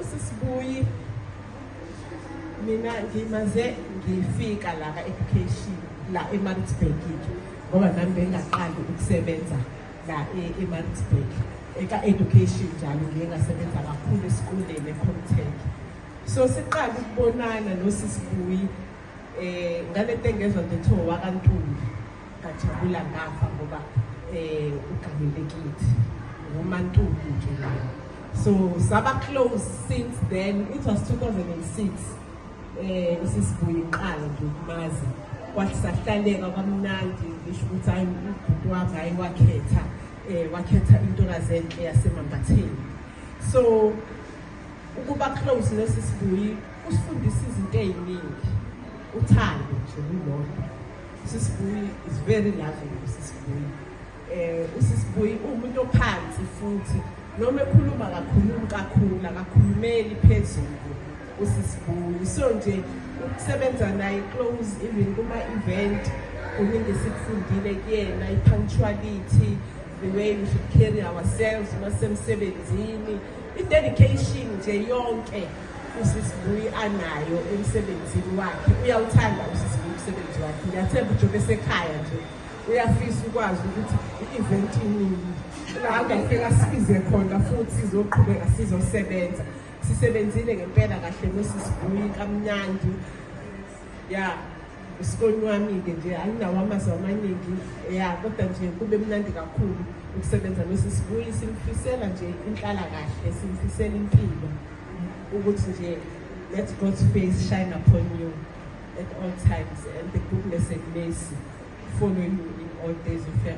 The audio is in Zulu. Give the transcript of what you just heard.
Usisibuyi mina ngimaze ngifika la ka education la eMaritzburg ngoba nami bengaqali ukusebenza la e-, eMaritzburg eka education njalo ngiye ngasebenza kakhulu esikoleni eComtech so siqala ukubonana nosisibuyi eh ngalento engezwa nje kuthiwa wakantuli ngajabula ngafa ngoba eh ugamile kithi ngumantuli nje layo so saba close since then it was 2006 eh usisibuye iqala nje ukumazi kwathi sahlaleka kwamnandi ngisho ukuthi hayi ubhuti wami hayi wakhetha eh wakhetha intokazi enhle yasemambatheni so ukuba close nesisibuyi usifundisa izinto eziningi uthando nje kulokho Usisibuyi is very loving usisibuyi. Eh usisibuyi umuntu ophansi futhi noma ekhuluma kakhulumi kakhulu akakhulumeli phezulu usisibuyi. So nje ukusebenza naye close even kuma event kuningi sikufundile kuyena i punctuality the way we should carry ourselves masemsebenzini i dedication nje yonke Usisi Buyi anayo emsebenzini wakhe uyawuthanda usisi Buyi umsebenzi wakhe ngiyathemba ujobe sekhaya nje uyafisa ukwazi ukuthi i-event inini la angafika sibize khona futhi sizoqhubeka sizosebenza sisebenzile ngempela kahle nosisi Buyi kamnandi ya usikoni wami-ke nje anginawo amazwi amaningi ya kodwa nje kube mnandi kakhulu ukusebenza nosisibuyi simfisela nje inhlala kahle simfisela impilo ukuthi nje let god's face shine upon you at all times and the goodness and mercy follow you in all days of your